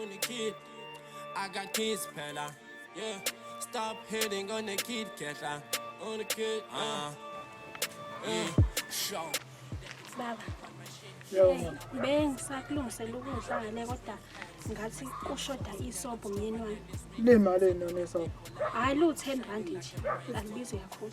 On the kid, I got kids, Pella. Yeah, stop hitting on the kid, Kella. On the kid, uh, yeah, show. Baba. bengisakulungisela ukudla ngane kodwa ngathi kushoda isobho myeni wami Lemali enone so. hhayi lu-ten rand nje angibizi kakhulu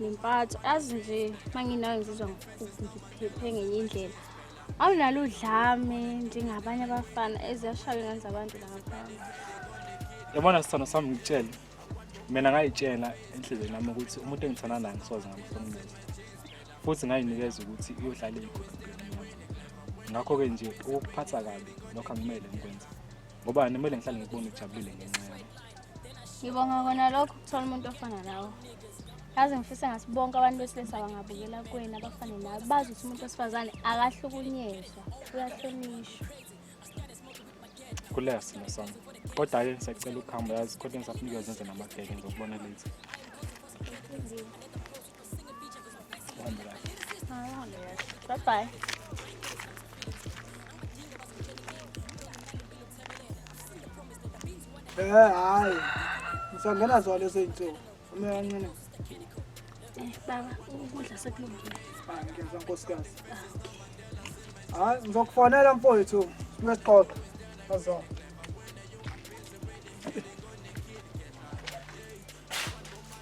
nempatho azi nje uma nginayo ngizizwa ngiphephe ngenye indlela awunalo udlame njengabanye abafana eziyashaywa ingane zabantu langaphandle yabona sithando sami ngitshele mina ngayitshela enhlizweni yami ukuthi umuntu engithanda naye ngisoze ngamhlomumeza futhi ngayinikeza ukuthi iyohlala iyigobheni ngakho-ke nje ukuphatha kabi lokho angimele ngikwenze ngoba kumele ngihlale ngikubona ujabulile ngenxa yami ngibonga kona lokho ukuthola umuntu ofana nawe yazi ngifisa ngathi bonke abantu besilisa bangabukela kwena abafane nawe bazi ukuthi umuntu wesifazane akahlukunyezwa uyahlonishwa kulea simo sami kodwa-ke ngisacela ukuhamba yazi kodwa ngisafunike zenze namabheke ngizokubona late Bye bye. Eh hayi. Ngisangena zona lezi zinsuku. Uma kancane. Eh baba, ukudla sekulungile. Hayi ngiyazwa nkosikazi. Ah, hayi ngizokufonela mfowethu. Singexoxa. Azona.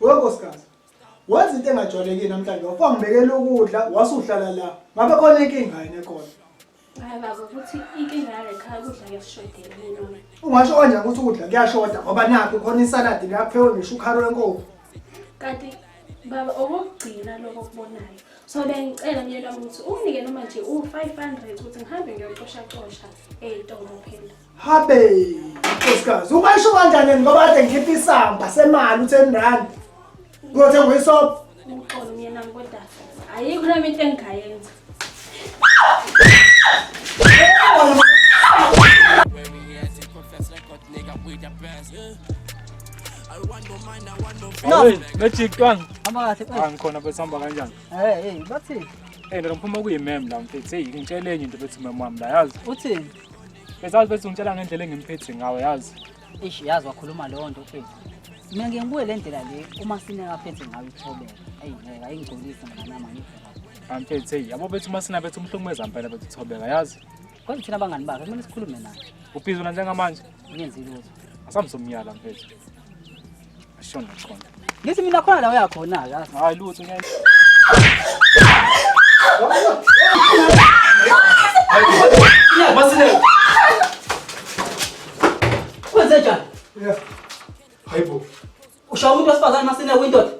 Wenkosikazi, wenza into engajwayelekile namhlanje, wafangibekela ukudla wasuhlala la. Ngabe khona inkinga yini ekhona? Hayi baba ukuthi inkinga yale khaya kudla kuyasishodela yini? Ungasho kanjani ukuthi ukudla kuyashoda ngoba nakho khona isaladi laphewe ngisho ukharo lenkomo. Kanti baba okokugcina lokho okubonayo. So bengicela myeni wami ukuthi unginike noma nje u-500 ukuthi ngihambe ngiyocoshacosha ey'tolo phela. Habe, nkosikazi, ubayisho kanjani yena ngoba kade ngikhipha isamba semali u-ten rand. Ngothe ngoyisobho. Uxolo myena kodwa ayikho nami into engingayenza. No. Magic twang. Hamba kahle. Ah ngikhona bese hamba kanjani? Eh, hey, bathini? Eh, ndophuma kuyimem la mfethu. Hey, ngitshele enye into bethi mama wami la yazi. Uthini? Besazi bese ungitshela ngendlela engimphethe ngawe yazi. Eish yazi wakhuluma leyo nto mfethu. Mina ngeke ngibuye le ndlela le uma sineka phethe ngayo ithobela. Eyi ngeke ayingigcolise mngana manje. Amphethe hey yabo bethu uma sinabethu umhlungumeza impela bethu thobeka yazi. Kodwa thina abangani bakhe kumele sikhulume naye. Ubhizi wena njengamanje? Ngenzi lutho. Asamsomyala mfethu. Shona khona. Ngithi mina khona la uyakhona ke. Hayi lutho ngeke. Masine. Kwenze njani? Yeah. Hayibo. Ushawa umuntu wesifazane masine windoda.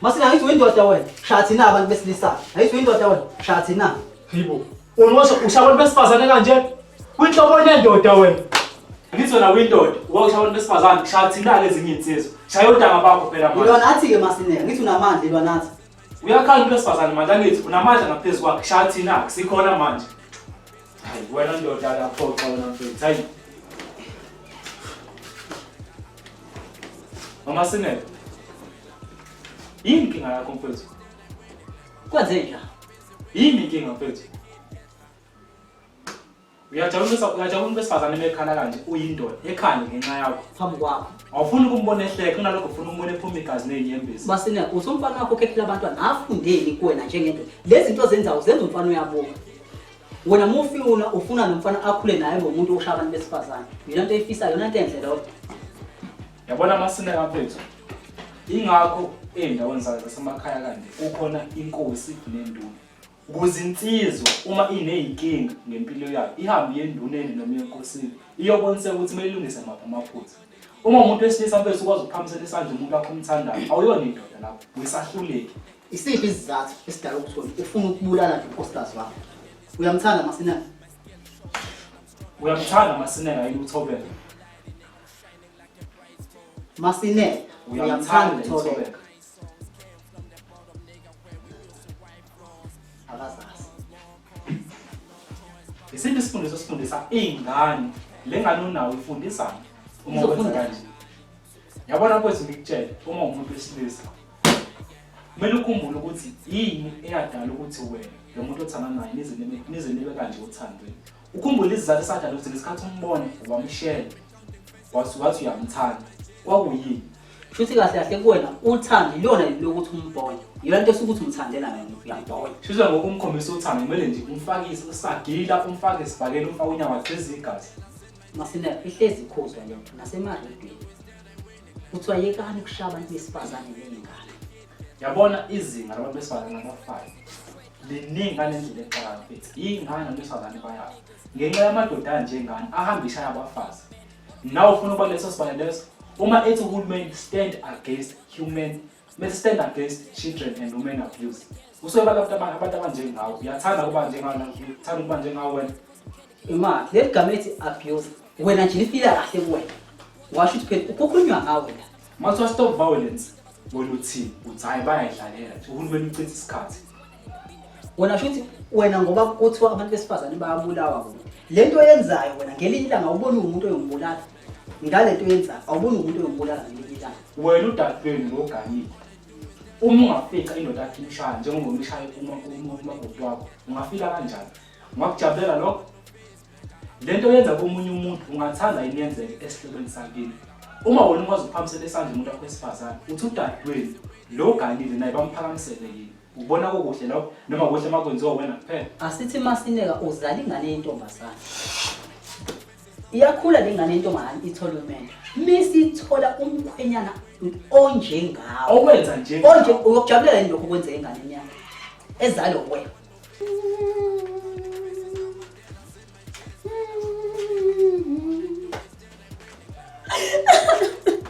Masina angithi uyindoda wena. Shaya thina abantu besilisa. Angithi uyindoda wena. Shaya thina. Hayibo. Unosho usha abantu besifazane kanje. Kwinhlobo nendoda wena. Angithi wena uyindoda. Uba usha abantu besifazane shaya thina lezinye insizwa. Shaya odanga bakho phela manje. Ilona athi ke Masina ngithi unamandla ilona athi. Uyakhala umuntu wesifazane manje angithi unamandla ngaphezu kwakhe. Shaya thina sikhona manje. Hayi wena ndoda akaphoxa wena mfethu. Hayi. Mama Sinele. Yini inkinga yakho mfethu? Kwenzeni la? Yini inkinga mfethu? Uyajabula besa uyajabula besifazane emekhala kanje uyindoda ekhani ngenxa yakho. Phambi kwakho. Awufuni ukumbona ehleka kunalokho ufuna umbone ephuma igazi nezinyembezi. Masina usomfana wakho khekhela abantwana afundeni kuwena njengendoda. Lezi zinto zenzawo zenza umfana uyabuka. wena mufi una ufuna nomfana akhule naye ngomuntu oshaya abantu besifazane yona nto eyifisayo yona nto enhle lodwa yabona amasineka mfethu ingakho ey'ndaweni zayo zasemakhaya kanje kukhona inkosi nenduna ukuze insizwa uma iney'nkinga ngempilo yayo ihambe iye enduneni noma enkosini iyobonisa ukuthi kumele ilungise maphi amaphutha uma umuntu wesilisa mfethu ukwazi ukuphamisela isandla umuntu wakho umthandayo awuyona indoda lapho wisahluleki Isiphi isizathu esidala ukuthi wena ufuna ukubulala nje unkosikazi wakho? Uyamthanda Masinela? Uyamthanda Masinela yini uThobeka? Masinela, uyamthanda uThobeka? Akazazi. Isiphi isifundiso sifundisa ingane lengane unawo ifundisana uma wenza kanje? Yabona kwethu ngikutshela uma umuntu wesilisa kumele ukhumbule ukuthi yini eyadala ukuthi wena lo muntu othanda naye nize nibe kanje othandweni ukhumbule isizathu esadala ukuthi ngesikhathi umbone wamshela wathi uyamthanda kwakuyini shuthi kahle kahle kuwena uthando ilona lokuthi umbone yona nto esukuthi umthandela nayo uyambona shuthi ngoku umkhombisa uthando kumele nje umfakise usagila umfake esibhakeni umfake unyaka gxiza igazi masinele ihlezi ikhuzwa lento nasemarhidweni kuthiwa yekani ukushaya abantu besifazane ney'ngane yabona izinga labantu besifazane abafayo liningi ngale ndlela exakala mfethu yingani abantu besifazane bayabo ngenxa yamadoda anjengani ahamba ishaya abafazi nawe ufuna ukuba leso sibane leso uma ethi uhulumeni stand against human Must stand against children and women abuse. Usoyibala abantu abantu abantu abanjengawo. Uyathanda ukuba njengawo uthanda ukuba njengawo wena. Ima, le gama ethi abuse. Wena nje lifika kahle kuwena. Washo ukuthi phela ukukhulunywa ngawe la. Mase stop violence. Wena uthini? Uthi hayi bayayidlalela. Uhulumeni uchitha isikhathi. Wena shuthi wena ngoba kuthiwa abantu besifazane bayabulawa kuwe. Lento yenzayo wena ngelinye ilanga ubona umuntu oyongibulala. ngale nto yenzayo awuboni umuntu oyokubulala ngelikilanga wena udadewenu ngoganile uma ungafica indoda yakhe imshaya njengoba umshaye umakoti wakho ungafika kanjani ungakujabulela lokho le nto yenza komunye umuntu ungathanda yini yenzeke esihlobeni sakini uma wena ukwazi ukuphakamisela esandla umuntu wakho wesifazane uthi udadewenu lo ganile naye bamphakamisele yini ubona kokuhle lokho noma kuhle uma kwenziwa wena kuphela asithi masineka uzala ingane yentombazane iyakhula le ngane intombazane itholwe mendo mesithola umkhwenyana onjengawo owenza nje onje uyokujabulela lokho kwenza ingane enyanga ezalo we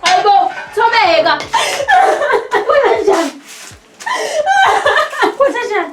Aybo, thobeka. Kwenza njani?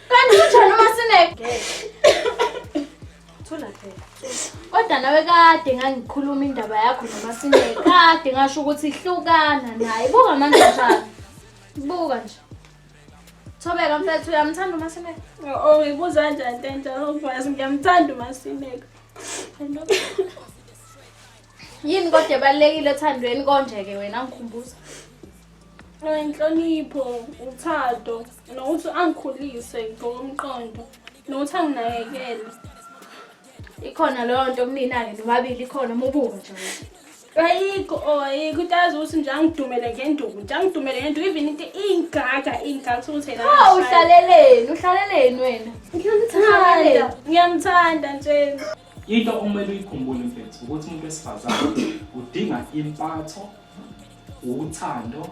Kanti kunjani uma sinegebe? Thula phela. Kodwa nawe kade ngangikhuluma indaba yakho noma sinegebe. Kade ngasho ukuthi hlukana naye. Buka manje njani. Buka nje. Thobeka mfethu uyamthanda uma sinegebe. Oh, ngibuza kanjani tenta? Ngiyamthanda uma sinegebe. yini kodwa ebalulekile othandweni konje-ke wena ngikhumbuza inhlonipho uthando nokuthi angikhulise ngokomqondo nokuthi anginakekele ikhona leyo nto kunina-ke nobabili ikhona mubuka nje ayikho or ayikho into azi ukuthi nje angidumele ngenduku nje angidumele ngenduku even into iyingaga iyingaga ukuthi yena hawu uhlaleleni uhlaleleni wena ngiyamthanda ngiyamthanda nje Into okumele uyikhumbule mfethu ukuthi umuntu wesifazane udinga impatho, uthando,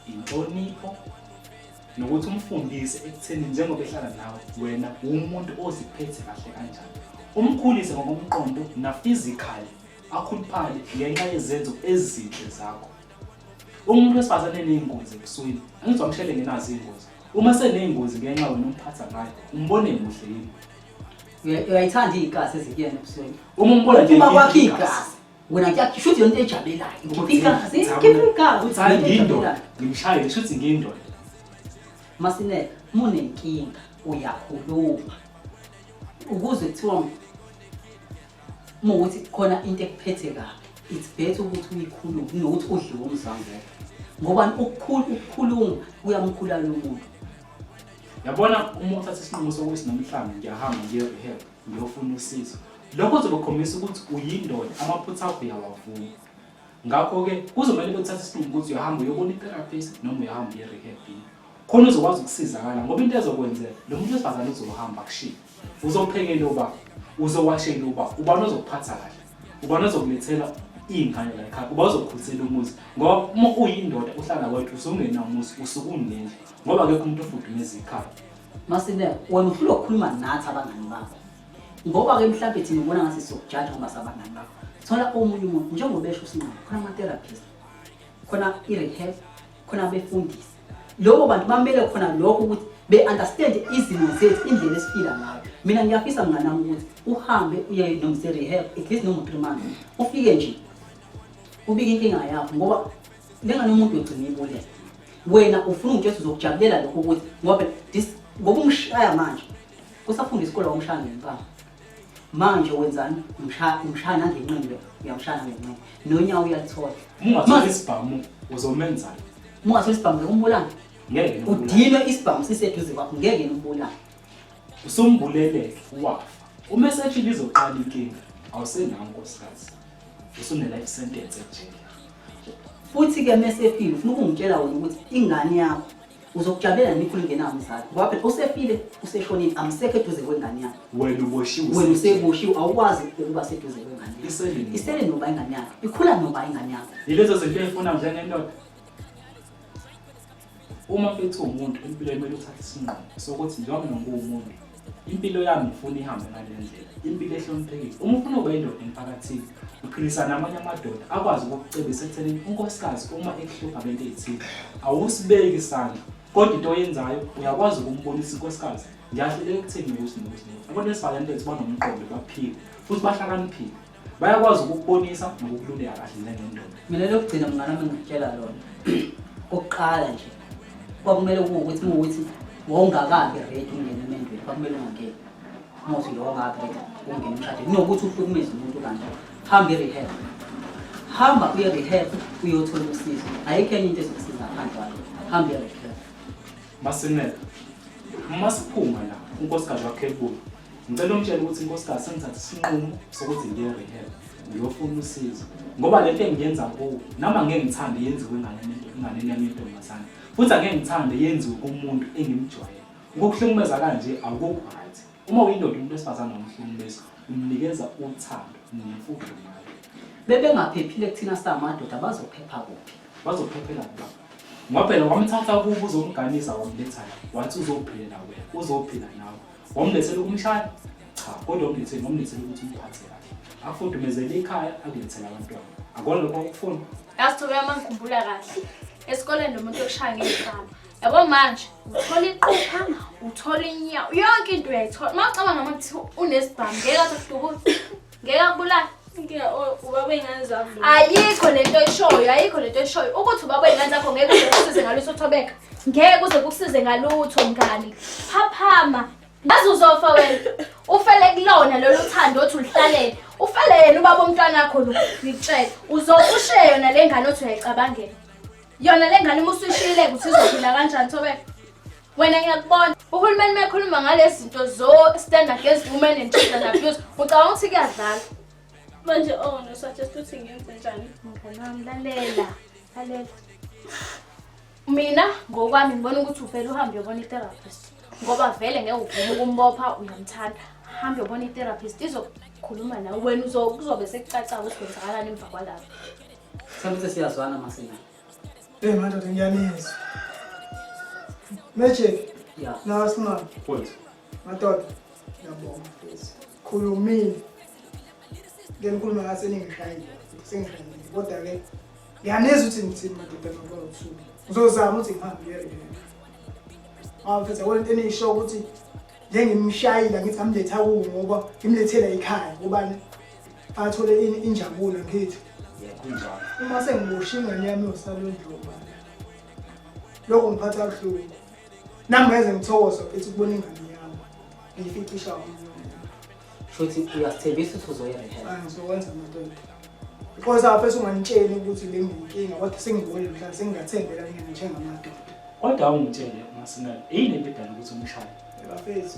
inhlonipho nokuthi umfundise ekutheni njengoba ehlala nawe wena uwumuntu oziphethe kahle kanjani. Umkhulise ngokomqondo na physically akhuluphale ngenxa yezenzo ezinhle zakho. Umuntu wesifazane eneyingozi ebusweni, angithi wamshele ngenazo iy'ngozi. Uma seneyingozi ngenxa wena umphatha ngayo, umbone muhle yini? uyayithanda igazi ezinkiyeni ebusweni uma umbona nje uma kwakhe igazi wena kuyakhe shuthi yonto ejabelayo ngoba igazi ikhipha igazi uthi hayi ngindoda ngimshayile shuthi ngindoda masineke munenkinga uyakhuluma ukuze kuthiwa mukuthi khona into ekuphethe kabi it's better ukuthi uyikhulume kunokuthi udliwe umzangelo ngoba ukukhuluma kuyamkhulala umuntu yabona uma uthatha isinqumo sokuthi namhlanje ngiyahamba ngiye-rehab ngiyofuna usizo lokho kuzobakhombisa ukuthi uyindoda amaphutha akho uyawavuma ngakho-ke kuzomele bethathe isinqumo ukuthi uyahamba uyobona i-therapist noma uyahamba uye-rehab khona uzokwazi ukusizakala ngoba into ezokwenzeka lo muntu wesifazane uzohamba kushiye uzophekela ubaba uzowashela ubaba ubani ozokuphatha kahle ubani ozokulethela iy'ngane la ekhaya uba uzokhulisa umuzi ngoba uma uyindoda uhlala kwethu usungenamuzi usuke unendlu ngoba akekho umuntu ofudumeza ikhaya masinela wena uhlula ukukhuluma nathi abangani bakho ngoba-ke mhlawumbe thina ubona ngathi sizokujaja ngoba sabangani bakho thola omunye umuntu njengoba esho usinqaba khona ama-therapist khona i-rehab khona befundise lobo bantu bamele khona lokho ukuthi be-understand izimo zethu indlela esiphila ngayo mina ngiyafisa mnganami ukuthi uhambe uye nomse rehab at least noma three months ufike nje ubike inkinga yakho ngoba lengane umuntu yogcina ibulele wena ufuna ukuthi jesu uzokujabulela lokho ukuthi ngoba ngoba umshaya manje kusafunda isikole wamshaya ngempama manje wenzani umshaya nangenqindi uyamshaya nangenqindi nonyawo uyalithola ungathola isibhamu uzomenzani ungathola isibhamu ngekumbulana ngeke udinwe isibhamu siseduze kwakho ngeke nibulane usumbuleleke wafa uma eseshile izoqala inkinga awusenawo nkosikazi usunelife sentence ejele futhi-ke mesefile ufuna ukungitshela wena ukuthi ingane yakho uzokujabulela nini ikhulu ingena umzali ngoba phela usefile useshonile amsekho eduze kwengane yakhe wena uboshiwe wena useboshiwe awukwazi ukuba seduze kwengane yakhe isele noba ingane yakhe ikhula noba ingane yakhe yilezo zinto eyifuna njengendoda uma mfethu umuntu empilweni kumele uthathe isinqumo sokuthi njengoba nonguwumuntu impilo yami ngifuna ihambe ngale ndlela impilo ehloniphekile uma ufuna ukuba indoda emphakathini uqinisa namanye amadoda akwazi ukukucebisa ekuthenini unkosikazi uma ekuhlupha ngento eyithile awusibeki isandla kodwa into oyenzayo uyakwazi ukumbonisa inkosikazi ngiyahluleka ekutheni ukuthi nokuthi abantu besifazane bethu banomqondo baphile futhi bahlakaniphile bayakwazi ukukubonisa nokukululeka kahle njengendoda mina lokugcina mngane wami ngikutshela lona kokuqala nje kwakumele kuwukuthi muwukuthi wawungakabi redi ungena emendweni kwakumele ungangeni umuthi lo wawungakabi redi ungena umshade kunokuthi uhlukumeze umuntu kanje hamba i-rehab hamba kuye rehab uyothola usizo ayikho enye into ezokusiza ngaphandle kwakho hamba uye rehab masineka uma siphuma la unkosikazi wakhe ebuya Ngicela ungitshele ukuthi inkosikazi sengithathe isinqumo sokuthi ngiye rehab ngiyofuna usizo ngoba le nto engiyenza kuwo nami angeke ngithande yenziwe enganeni yami yentombazane futhi angeke ngithande yenziwe kumuntu engimjwayele ukukuhlukumeza kanje akukho right uma uyindoda umuntu wesifazane nomhlukumezi umnikeza uthando nemfundo naye bebengaphephile kuthina samadoda bazophepha kuphi bazophephela kuba ngoba phela wamthatha kubo uzomganisa wamletha wathi uzophila nawe uzophila nawe Wamlethela ukumshaya? Cha, kodwa umlethele wamlethela ukuthi umphathe kahle. Afudumezele ikhaya akulethele abantwana. Akona lokho ukufuna. Yasithobe uma ngikhumbula kahle. Esikoleni nomuntu okushaya ngezihamba. Yabo manje uthola iqupha, uthola inyawo, yonke into uyayithola. Uma ucabanga ukuthi unesibhamu ngeke athi kudubuza. ngeke akubulale inkinga oh, ubaba wey'ngane zami ayikho le nto eshoyo ayikho le nto eshoyo ukuthi ubaba wey'ngane zakho ngeke uze kusize ngalutho uthobeka ngeke uze kusize ngalutho mngani phaphama ngaze uzofa wena ufele kulona lolu thando othi ulihlalela ufele yena ubaba omntwana akho lo ngikutshele uzokushe yona le ngane othi uyayicabangela yona le ngane uma usuyishiyile ukuthi izophila kanjani thobeka wena ngiyakubona uhulumeni mekhuluma ngalezi zinto zo stand against women and children abuse ucabanga ukuthi kuyadlala manje oh no suggest ukuthi ngenze njani mnganami lalela lalela mina ngokwami ngibona ukuthi uvele uhambe uyobona i-therapist ngoba vele ngeke uvume ukumbopha uyamthanda hambe uyobona i-therapist izokhuluma nawe wena uzobe sekucaca ukuthi kwenzakalani emva kwalapho sekuthi siyazwana masina Eh madoda ngiyanizwa. Magic. Yeah. Nawa smart. Point. Madoda. Ngiyabonga mfethu. Khulumile. Ngenikhuluma ngathi seningishayile. Sengishayile. Kodwa ke ngiyanizwa ukuthi ngithini madoda ngoba usuku. Ngizozama ukuthi ngihambe ngiyele. Ah mfethu akona into enisho ukuthi ngeke ngimshayile ngithi ngamletha kuwo ngoba ngimlethela ekhaya kubani athole ini injabulo ngithi kunjalo uma sengibosha ingane yami yosalondluma lokho ngiphatha kabuhlungu nami ngeze ngithokoza futhi ukubona ingane yami ngiyificisha futhi uyasithembisa ukuthi uzoyirehela ah, ngizokwenza madoda Khoza apha sungangitsheli ukuthi benginkinga kodwa sengibone mhla sengingathembela mina njengamadoda. Kodwa awungitshele masinalo yini into edala ukuthi umshayele? Bafethu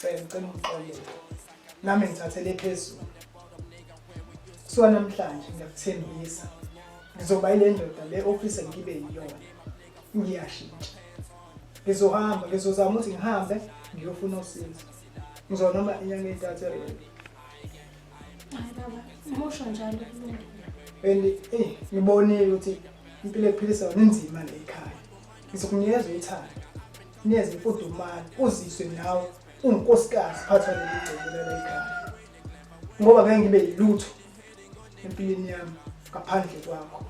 Cela ngicela ungixolele. Nami ngithathele phezulu. Kusuka namhlanje ngiyakuthembisa. Ngizoba ile ndoda le office engibe yiyona. Ngiyashintsha. Ngizohamba, ngizozama ukuthi ngihambe ngiyofuna usizo. Ngizona noma inyanga entathu erenki. Hayi baba, umusho njalo kulungile. And eh ngibonile ukuthi impilo ephilisa yona inzima le ekhaya. Ngizokunikeza uthando. neze mfudumane uziswe nawe ungunkosikazi phatha leli gceke lala ekhaya ngoba ngeke ngibe yilutho empilweni yami ngaphandle kwakho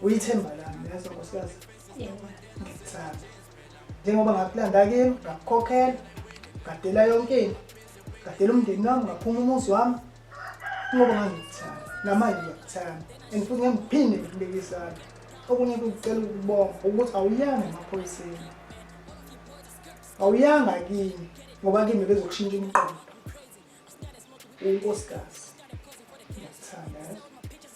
uyithemba lami yazi nkosikazi yebo ngikuthanda njengoba ngakulanda kimi ngakukhokhela ngadela yonke into ngadela umndeni wami ngaphuma umuzi wami ngoba ngazi ngikuthanda namanje ngiyakuthanda and futhi ngiyamuphinde ngikubeke isandla okunye kucela ukubonga ukuthi awuyanga emaphoyiseni awuyanga kimi ngoba kimi bezokushintsha umqondo unkosikazi ngiyakuthanda